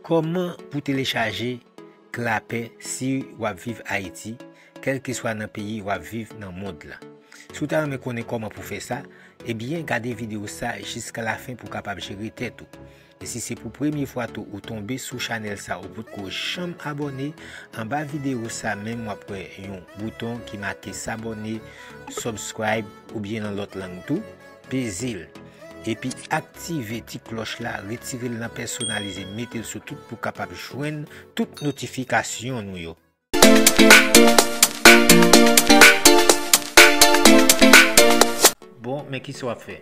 Kòman pou telechaje Clapper si wap viv Ayiti, kèlkeswa nan peyi wap viv nan mond la. Si w ta renmen konnen kòman pou fè sa, ebyen gade videyo sa jiska lafen pou w kapab jere tèt ou. E si se pou premye fwa tou ou tonbe sou chanèl sa ou potko janm abòne, anba videyo sa menm wap wè yon bouton ki make sabòne, subscribe, oubyen nan lòt lang tou, pezel epi aktive ti klòch la retirel nan pèsonalize metel sou tout pou kapab jwenn tout notifikasyon nou yo. Bon, men kisa wap fè?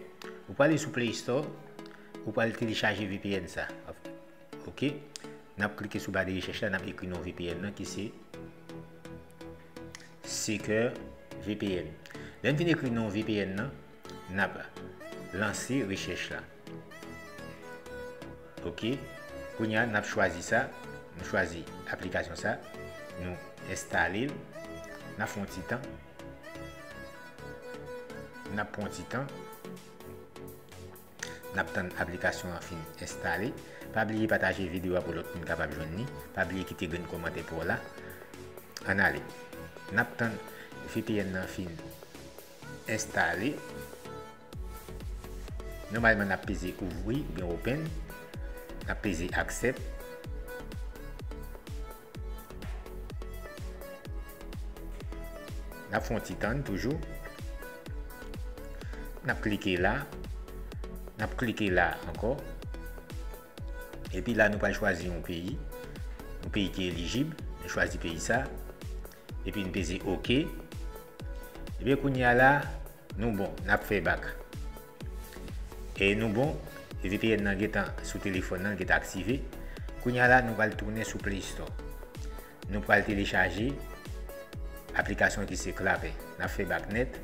Ou pwale sou play store, ou pwale telechaje vpn sa. Ok, nap klike sou ba de rechèch la, nap ekri non vpn nan ki se Seeker vpn. Lè n fin ekri non vpn nan, nap lanse rechèch la. Ok kounye a nap chwazi sa nou chwazi aplikasyon sa nou enstale l nap fè yon ti tan nap pran yon ti tan nap tann aplikasyon an fin enstale pa bliye pataje videyo a pou lòt moun kapab jwenn li pa bliye kite grenn kòmantè pa w la ann ale nap tann vpn nan fin enstale Nòmalman nap peze ouvri oubyen open Nap peze aksèp Nap fon ti tann toujou Nap klike la Nap klike la ankò Epi la nou pral chwazi yon peyi Yon peyi ki elijib Nou chwazi peyi sa Epi n peze ok. Ebyen kounye a la nou bon nap fè bak. E nou bon e vpn nan gentan sou telefòn nan li gentan aktive. Kounye a la nou pral tounen sou play store. Nou pral telechaje aplikasyon ki se Clapper. Nap fè bak nèt.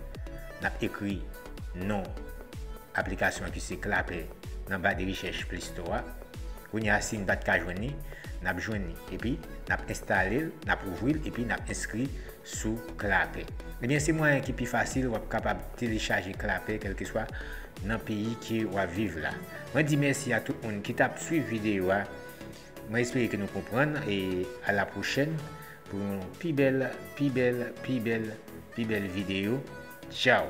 Nap ekri non aplikasyon ki se Clapper nan ba de rechèch play store a. Kounye a si n pa t ka jwenn li, n ap jwenn li. Epi, n ap enstale l, n ap ouvri l, epi n ap enskri sou Clapper. Ebyen, se mwayen ki pi fasil w ap kapab telechaje Clapper kèlkeswa nan peyi ke w ap viv la. Mwen di mèsi a tout moun ki t ap swiv videyo a. Mwen espere ke nou konprann e a la pwochèn pou yon pi bèl, pi bèl, pi bèl, pi bèl videyo. Tchaw!